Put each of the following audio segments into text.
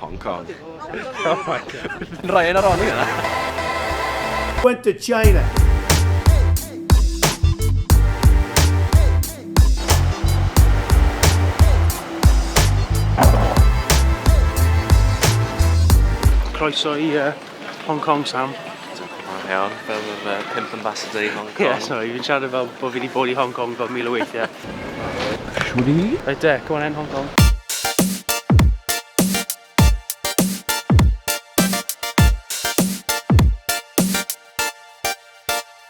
Hong Kong. Oh my god. Yn rhoi yn ar ôl i yna. Went to China. croeso i uh, Hong Kong, Sam. Dwi'n gwybod iawn, fel yr uh, pimp ambassador i Hong Kong. Ie, yeah, sorry, fi'n siarad fel bod fi wedi bod i Hong Kong fel mil o weithiau. Shwri? Right there, go on then, Hong Kong.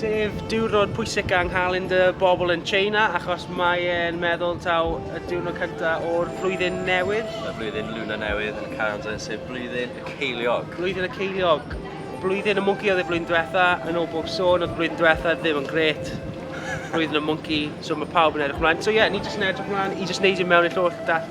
Sef diwrnod pwysig yng nghalend y bobl yn China achos mae e'n meddwl taw y diwrnod cyntaf o'r flwyddyn newydd. Y flwyddyn Luna newydd yn y calendar sef blwyddyn y ceiliog. Blwyddyn y ceiliog. Blwyddyn y mwnci oedd y flwyddyn diwetha, yn ôl bob sôn oedd y flwyddyn diwetha ddim yn gret. Blwyddyn y mwnci, so mae pawb yn edrych mlaen. So ie, yeah, ni jyst yn edrych mlaen i jyst neud e mewn i'r llyfrgell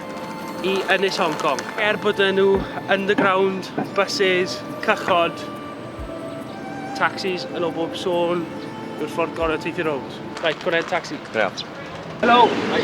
i Ynys Hong Kong. Er bod dyn nhw underground, buses, cychod, taxis yn o bob sôn yw'r ffordd gorau o teithio rownd. Right, gwneud taxi. Ia. Helo! Hi.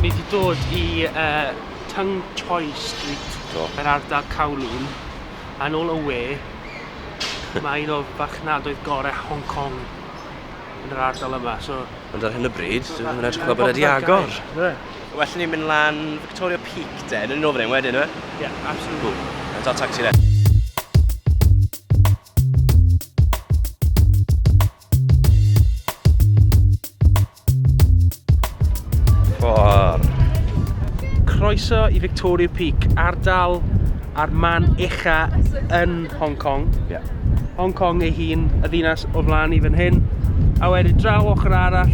Ni wedi dod i uh, Tung Choi Street Do. yn ardal Kowloon a nôl o we mae un o'r farchnadoedd gorau Hong Kong yn yr ardal yma so... Ond ar hyn o bryd, dwi ddim yn edrych fel bod wedi agor. Well ni'n mynd lan Victoria Peak de, yn yn ôl fan wedyn, yw e? Yeah, absolutely. Cool. Yn dal tacsi de. Ffordd. Croeso i Victoria Peak, ardal a'r man ucha yn Hong Kong. Yeah. Hong Kong ei hun, y ddinas o flaen i fan hyn. A wedyn draw ochr arall,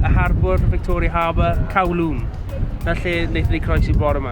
y harbwr, Victoria Harbour, Kowloon. Na lle wnaethon ni croesi bore yma.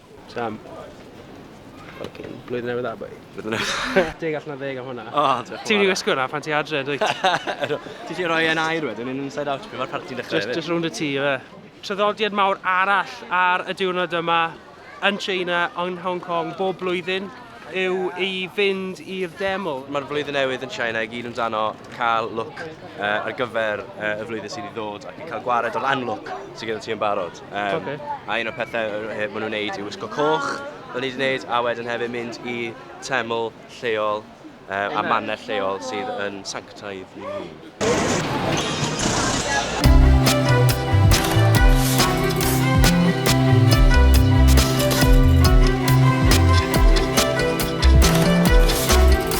Sam. Fucking blwyddyn newydd dda, boi. Blwyddyn newydd dda. Deg allan o ddeg am hwnna. O, diolch yn fawr. Ti'n mynd i wisgo hwnna pan ti adre, dwyt? Ti'n gallu rhoi e'n air wedyn, yn inside out, pan mae'r parti'n dechrau hefyd. Just rownd y tŷ, ife. Traddodiad mawr arall ar y diwrnod yma yn China, yn Hong Kong, bob blwyddyn, yw i fynd i'r deml. Mae'r flwyddyn newydd yn China i gyd amdano cael look ar gyfer y flwyddyn sydd i ddod ac yn cael gwared o'r unlook sydd gyda ti yn barod. Um, okay. A un o'r pethau maen nhw'n neud i wisgo coch, o'n i wedi neud, a wedyn hefyd mynd i teml lleol uh, a manner lleol sydd yn sanctaidd i ni.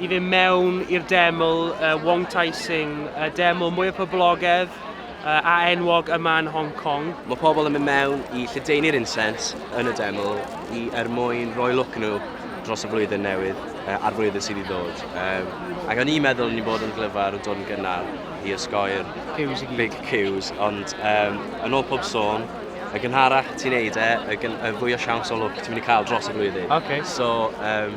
i fynd mewn i'r deml uh, Wong Tai Sing, y deml mwyaf poblogedd uh, a enwog yma yn Hong Kong. Mae pobl yn mynd mewn i lledaenu'r incense yn y deml i er mwyn rhoi look nhw dros y flwyddyn newydd uh, a'r flwyddyn sydd i ddod. Um, ac o'n i'n meddwl ni'n bod yn glyfar yn dod yn gynnar i osgoi'r big queues, ond um, yn ôl pob sôn, y gynharach ti'n neud e, y, gyn, y fwy o siawns o look ti'n mynd i cael dros y flwyddyn. Okay. So, um,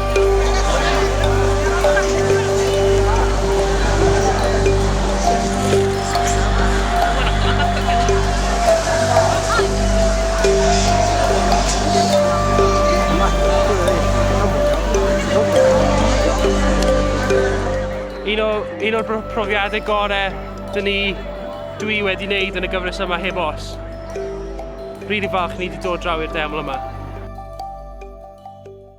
Un o, un o'r profiadau gorau dyn ni, dwi wedi wneud yn y gyfres yma heb os. Rili falch ni wedi dod draw i'r deml yma.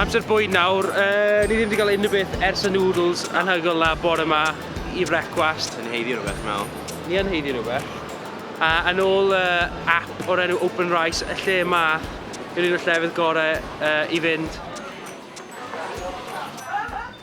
Amser bwyd nawr, uh, ni ddim wedi cael unrhyw beth ers y noodles anhygoel na bore yma i frecwast. Yn heiddi rhywbeth, mewn. Ni yn heiddi rhywbeth. A yn ôl uh, app o'r enw Open Rice, y lle yma yw'r un o'r llefydd gorau uh, i fynd.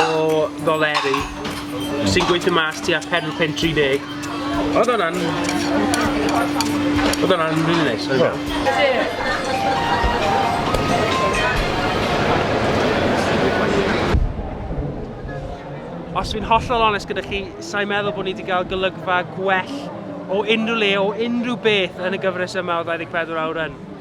o ddoleri sy'n gweithio mas tua 4 pun 30. Oedd hwnna'n... Oedd hwnna'n rili neis. Oedd hwnna'n... Os fi'n hollol onest gyda chi, sa'n meddwl bod ni wedi cael golygfa gwell o unrhyw le, o unrhyw beth yn y gyfres yma o 24 Awr yn.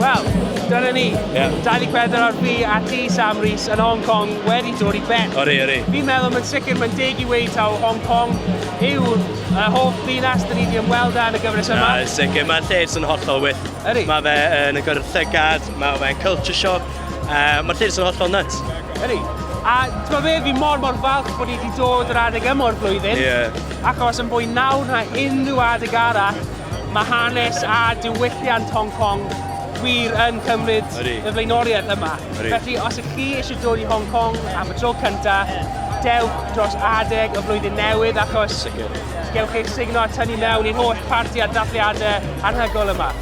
Wel, dyna ni. Ie. Dani Pedder ar fi a ti, Sam Rees, yn Hong Kong wedi dod i ben. Odi, odi. Fi'n meddwl mae'n sicr mae'n deg i weud taw Hong Kong yw y hoff ddinas dyn ni wedi ymweld â yn y gyfres yma. Na, yn sicr. Mae'r lle jyst yn hollol wych. Ydi. Mae fe yn agor ar y llygad, mae fe'n culture shock. Uh, Mae'r llys yn hollol nuts. Ydy. A ti'n gwybod fi mor mor falch bod ni wedi dod yr adeg yma o'r flwyddyn. Yeah. Achos yn fwy nawr na unrhyw adeg arall, mae hanes a diwylliant Hong Kong wir yn cymryd y flaenoriaeth yma. Ydy. Felly, os ych chi eisiau dod i Hong Kong am y tro cyntaf, dewch dros adeg y flwyddyn newydd achos Sicr. gewch eich signo a tynnu mewn i'r holl parti a dathliadau anhygol yma.